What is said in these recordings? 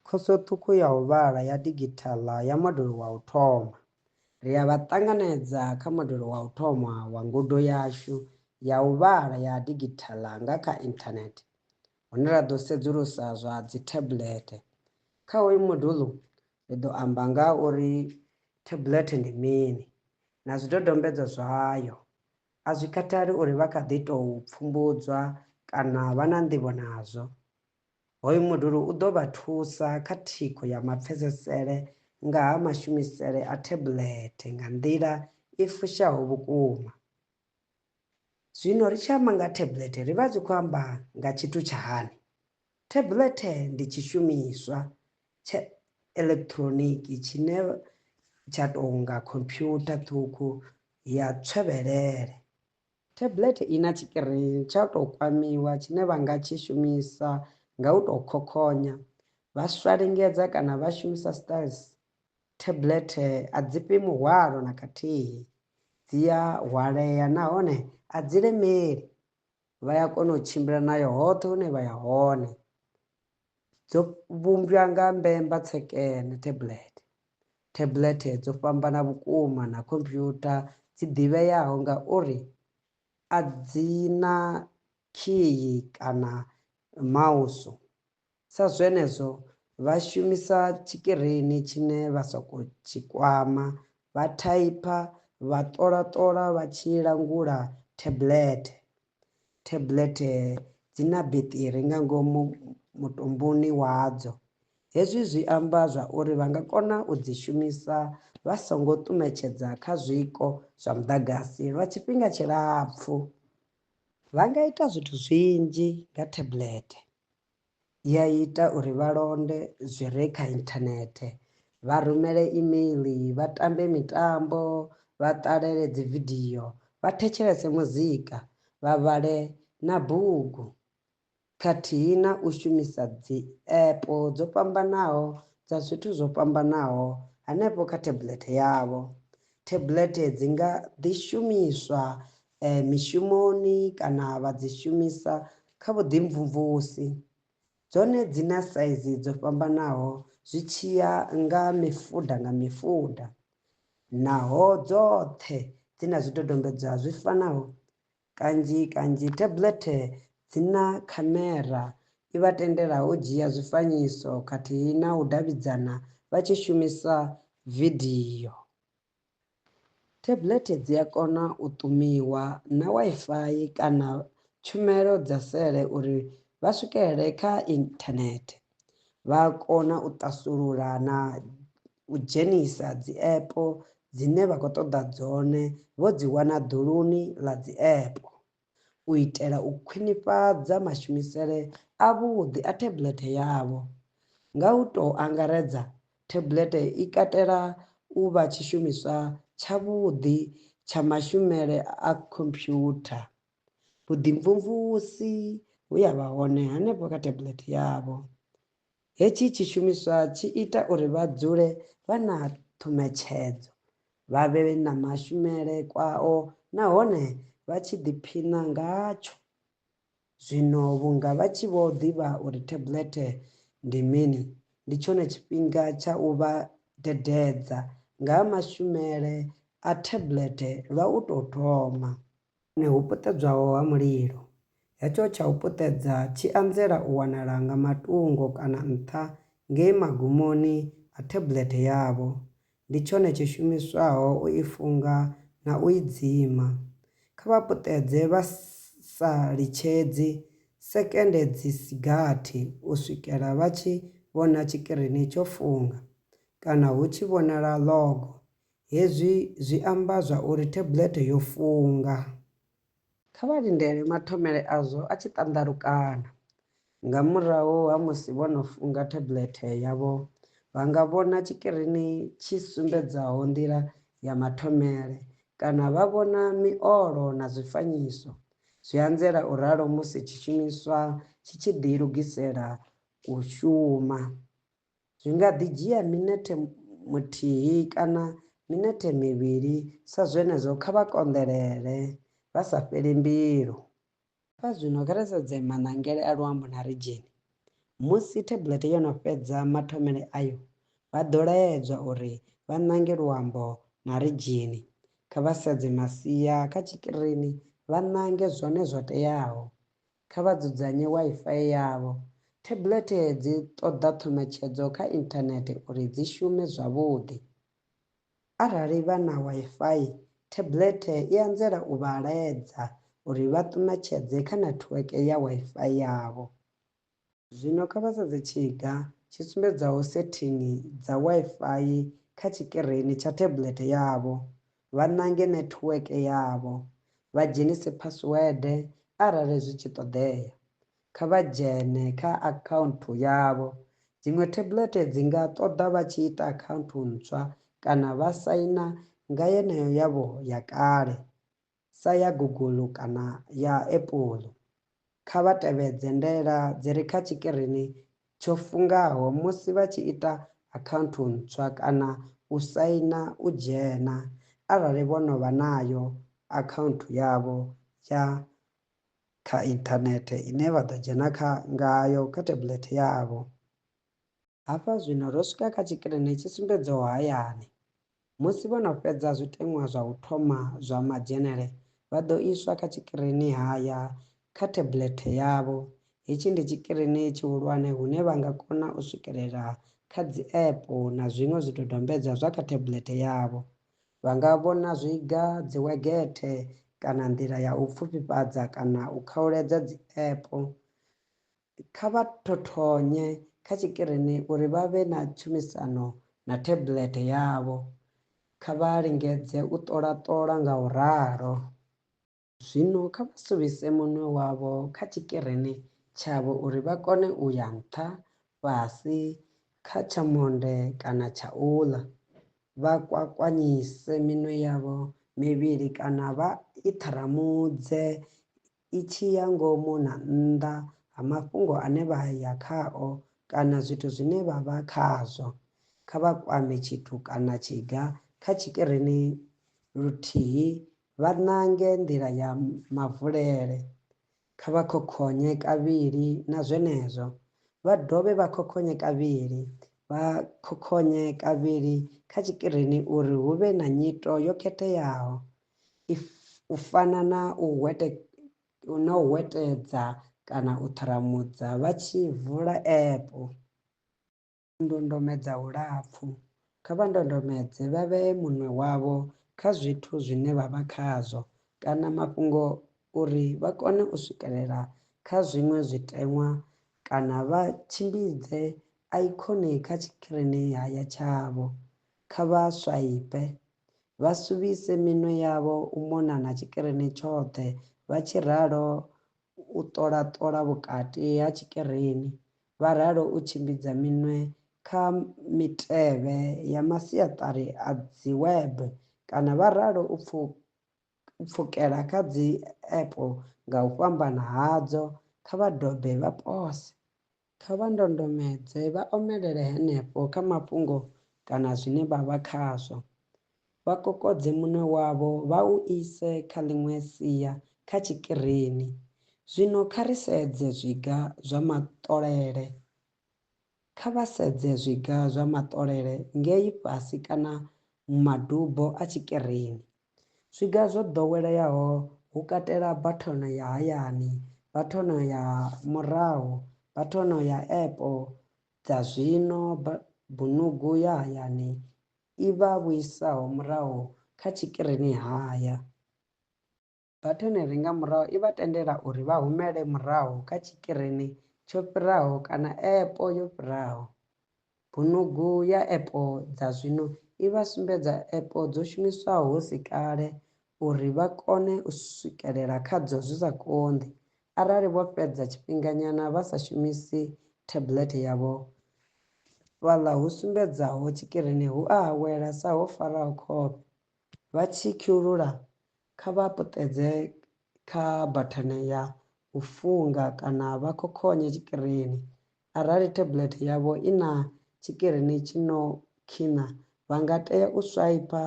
Khoso Ṱhukhu ya u Vhala ya Digithaḽa ya Modulo wa u Thoma. Ri a vha ṱanganedza kha Modulo wa u Thoma wa ngudo yashu ya u vhala ya digithaḽa nga kha inthanethe, hune ra ḓo sedzulusa zwa dzithablethe. Kha hoyu modulo, ri ḓo amba nga ha uri thablethe ndi mini na zwidodombedzwa zwayo. A zwi khathali uri vha kha ḓi tou pfumbudzwa kana vha na nḓivho nazwo, Hoyu modulu u ḓo vha thusa kha thikho ya mapfesesele nga ha mashumisele a thebulethe nga nḓila i fushaho vhukuma. Zwino ri tshi amba nga ha thebulethe ri vha ri khou amba nga tshithu tsha hani? Thebulethe ndi tshishumiswa tsha elekitroniki tshine tsha tou nga khomphyutha ṱhukhu ya tswevhelele. Tablet i na tshikirini tsha u tou kwamiwa tshine vha nga tshi shumisa nga u tou khokhonya. Vha swa lingedza kana vha shumisa Styles, tablet a dzi fhi muhwalo na khathihi. Dzi a hwalea nahone a dzi lemeli. Vha ya kona u tshimbila nayo hoṱhe hune vha ya hone. dzo vhumbwa nga mbemba tsekene, tablet. Tablet dzo fhambana vhukuma na khomphyutha dzi ḓivheaho nga uri a dzi na khiyi kana mausu, sa zwenezwo vha shumisa tshikirini tshine vha sokou tshi kwama, vha thaipha, vha ṱola-ṱola vha tshi langula tablet. Tablet dzi na beṱiri nga ngomu mutumbuni wadzo. Hezwi zwi amba zwa uri vha nga kona u dzi shumisa vha songo ṱumetshedza kha zwiko zwa muḓagasi lwa tshifhinga tshilapfhu. Vha nga ita zwithu zwinzhi nga tablet. i a ita uri vha londe zwi re kha inthanethe, vha rumele imeiḽi, vha tambe mitambo, vha ṱalele dzividio, vha thetshelese muzika, vha vhale na bugu, khathihi na u shumisa dziepo dzo fhambanaho dza zwithu zwo fhambanaho hanefho kha thebulethe yavho. Thebulethe dzi nga ḓi shumiswa e mishumoni kana vha dzi shumisa kha vhuḓimvumvusi. Dzone dzi na saizi dzo fhambanaho zwi tshi ya nga mifuda nga mifuda, naho dzoṱhe dzi na zwidodombedzwa zwi fanaho. Kanzhi kanzhi tablet dzi na khamera i vha tendelaho u dzhia zwifanyiso khathihi na u davhidzana vha tshi shumisa video. Tablethe dzi a kona u ṱumiwa na Wi-Fi kana tshumelo dza sele uri vha swikelele kha inthanethe. Vha a kona u ṱasulula na u dzhenisa dzi app dzine vha khou ṱoḓa dzone vho dzi wana ḓuluni ḽa dzi app. u itela u khwinifhadza mashumisele avhuḓi a thebulethe yavho. Nga u tou angaredza, thebulethe i katela u vha tshishumiswa tshavhuḓi tsha mashumele a khomphyutha. Vhuḓimvumvusi vhu a vha hone hanefho kha thebulethe yavho. Hetshi tshishumiswa tshi ita uri vha dzule vha na ṱhumetshedzo, vha vhe na mashumele kwao nahone vha tshi ḓiphina ngatsho. Zwino vhunga vha tshi vho ḓivha uri theblethe ndi mini, ndi tshone tshifhinga tsha u vha dededza nga ha mashumele a theblethe lwa u tou thoma. Hone hu puṱedzwaho ha mulilo. Hetsho tsha u puṱedza tshi anzela u wanala nga matungo kana nṱha ngei magumoni a theblethe yavho. Ndi tshone tshi shumiswaho u i funga na u i dzima. Kha vha puṱedze vha sa litshedzi sekende dzi si gathi u swikela vha tshi vhona tshikirini tsho funga kana hu tshi vhonala ḽogo Hezwi zwi amba zwa uri thebulete yo funga. Kha vha lindele mathomele azwo a tshi ṱanḓalukana. Nga murahu ha musi vho no funga thebulete yavho, vha nga vhona tshikirini tshi sumbedzaho nḓila ya mathomele kana vha vhona miolo na zwifanyiso. Zwi anzela u ralo musi tshishumiswa tshi tshi ḓilugisela u shuma. Zwi nga ḓi dzhia minethe muthihi kana minethe mivhili, sa zwenezwo kha vha konḓelele vha sa fheli mbilu. Kha zwino kha ri sedze maṋangele a luambo na ridzheni. Musi thablethe yo no fhedza mathomele ayo, vha ḓo laedzwa uri vha ṋange luambo na ridzheni. Kha vha sedze masia kha tshikirini vha ṋange zwone zwo teaho. kha vha dzudzanye Wi-Fi yavho. Thebulethe dzi ṱoḓa ṱhumetshedzo kha inthanethe uri dzi shume zwavhuḓi. Arali vha na Wi-Fi, thebulethe i anzela u vha laedza uri vha ṱumetshedze kha nethiweke ya Wi-Fi yavho. Zwino kha vha sedze tshiga tshi sumbedzaho sethingi dza Wi-Fi kha tshikirini tsha tablet yavho, vha ṋange nethiweke yavho, vha dzhenise phasiwede arali zwi tshi ṱoḓea. Kha vha dzhene kha akhaunthu yavho. Dziṅwe tablet dzi nga ṱoḓa vha tshi ita akhaunthu ntswa kana vha saina nga yeneyo yavho ya kale. sa ya Google kana ya Apple. Kha vha tevhedze ndaela dzi re kha tshikirini tsho fungaho musi vha tshi ita akhaunthu ntswa kana u saina u dzhena arali vho no vha nayo akhaunthu yavho ya kha inthanethe ine vha ḓo dzhena kha ngayo kha tablet yavho. Hafha zwino ro swika kha tshikirini tshi sumbedzaho hayani. Musi vho no fhedza zwiteṅwa zwa u thoma zwa madzhenele, vha ḓo iswa kha tshikirini haya kha theblethe yavho. Hetshi ndi tshikirini tshihulwane hune vha nga kona u swikelela kha dzi-app na zwiṅwe zwidodombedzwa zwa kha theblethe yavho. Vha nga vhona zwiga, dziwegethe kana nḓila ya u pfufhifhadza kana u khauledza dzi-app kha vha thothonye kha tshikirini uri vha vhe na tshumisano na tablet yavho. Kha vha lingedze u ṱola-ṱola nga u ralo. Zwino kha vha suvhise munwe wavho kha tshikirini tshavho uri vha kone u ya nṱha, fhasi, kha tsha monde kana tsha u ḽa. Vha kwakwanyise minwe yavho mivhili kana vha i ṱharamudze i tshi ya ngomu na nnḓa ha mafhungo ane vha ya khao kana zwithu zwine vha vha khazwo. Kha vha kwame tshithu kana tshiga kha tshikirini luthihi, vha ṋange nḓila ya mavulele. Kha vha khokhonye kavhili na zwenezwo, vha dovhe vha khokhonye kavhili, vha khokhonye kavhili kha tshikirini uri hu vhe na nyito yo khetheaho. if u fana na u hwete na u hwetedza kana u ṱharamudza vha tshi vula app ndondomedza hulapfu kha vha ndondomedze vha vhee munwe wavho kha zwithu zwine vha vha khazwo kana mafhungo uri vha kone u swikelela kha zwiṅwe zwiteṅwa kana vha tshimbidze ikhoni kha tshikirini haya tshavho kha vha swaipe vha suvhise minwe yavho u mona na tshikirini tshoṱhe, vha tshi ralo u ṱola-ṱola vhukati ha tshikirini, vha ralo u tshimbidza minwe kha mitevhe ya masiaṱari a dziwebe kana vha ralo u pfuka pfukela kha dzi epo nga u fhambana hadzo, kha vha dobe vha pose. Kha vha ndondomedze vha omelele henefho kha mafhungo kana zwine vha vha khazwo. Vha kokodze munwe wavho vha u ise kha ḽiṅwe sia kha tshikirini. Zwino kha ri sedze zwiga zwa maṱolele Kha vha sedze zwiga zwa maṱolele ngei fhasi kana madubo a tshikirini. Zwiga zwo ḓoweleaho hu katela bathono ya hayani, bathono ya murahu, bathono ya epo dza zwino, bunugu ya hayani i vha vhuisaho murahu kha tshikirini haya. Batoneri nga murahu i vha tendela uri vha humele murahu kha tshikirini tsho fhiraho kana epo yo fhiraho. Bunugu ya epo dza zwino i vha sumbedza epo dzo shumiswaho hu si kale uri vha kone u swikelela khadzo zwi sa konḓi. Arali vho fhedza tshifhinganyana vha sa shumisi thabulete yavho, fhaḽa hu sumbedzaho tshikirini hu a awela sa ho faraho khofhe. Vha tshi khulula, kha vha puṱedze kha bathene ya u funga kana vha khokhonye tshikirini. Arali tablet yavho i na tshikirini tshi no khina, vha nga tea u swaipha,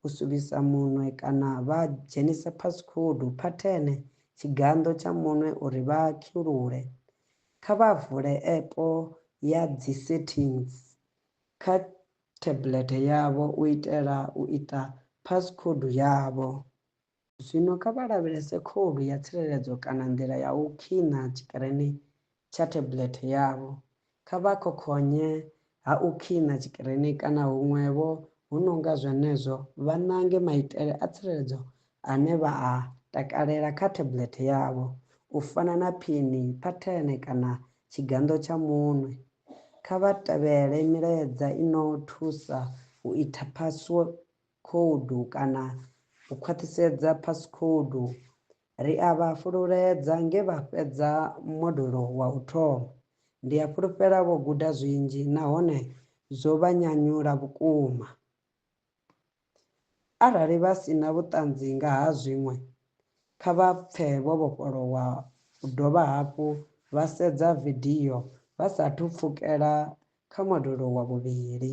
u suvhisa munwe kana vha dzhenisa phasikhoudu, phathene, tshiganḓo tsha munwe uri vha khulule. Kha vha vule epo ya dzi settings kha theblethe yavho u itela u ita phasikhoudu yavho. Zwino kha vha lavhelese khoudu ya tsireledzo kana nḓila ya u khina tshikirini tsha theblethe yavho. Kha vha khokhonye ha u khina tshikirini kana huṅwe-vho hu no nga zwenezwo vha ṋange maitele a tsireledzo ane vha a takalela kha tablet yavho, u fana na phini, phathene kana tshiganḓo tsha munwe. Kha vha tevhele milaedza i no thusa u ita phasikhoudu kana u khwaṱhisedza phasikhoudu. Ri a vha fhululedza nge vha fhedza modulo wa u thoma. Ndi a fhulufhela vho guda zwinzhi nahone zwo vha nyanyula vhukuma. Arali vha si na vhuṱanzi nga ha zwiṅwe, kha vha pfe vho vhofholowa u dovha hafhu vha sedza vidio vha sa athu pfukela kha modulo wa vhuvhili.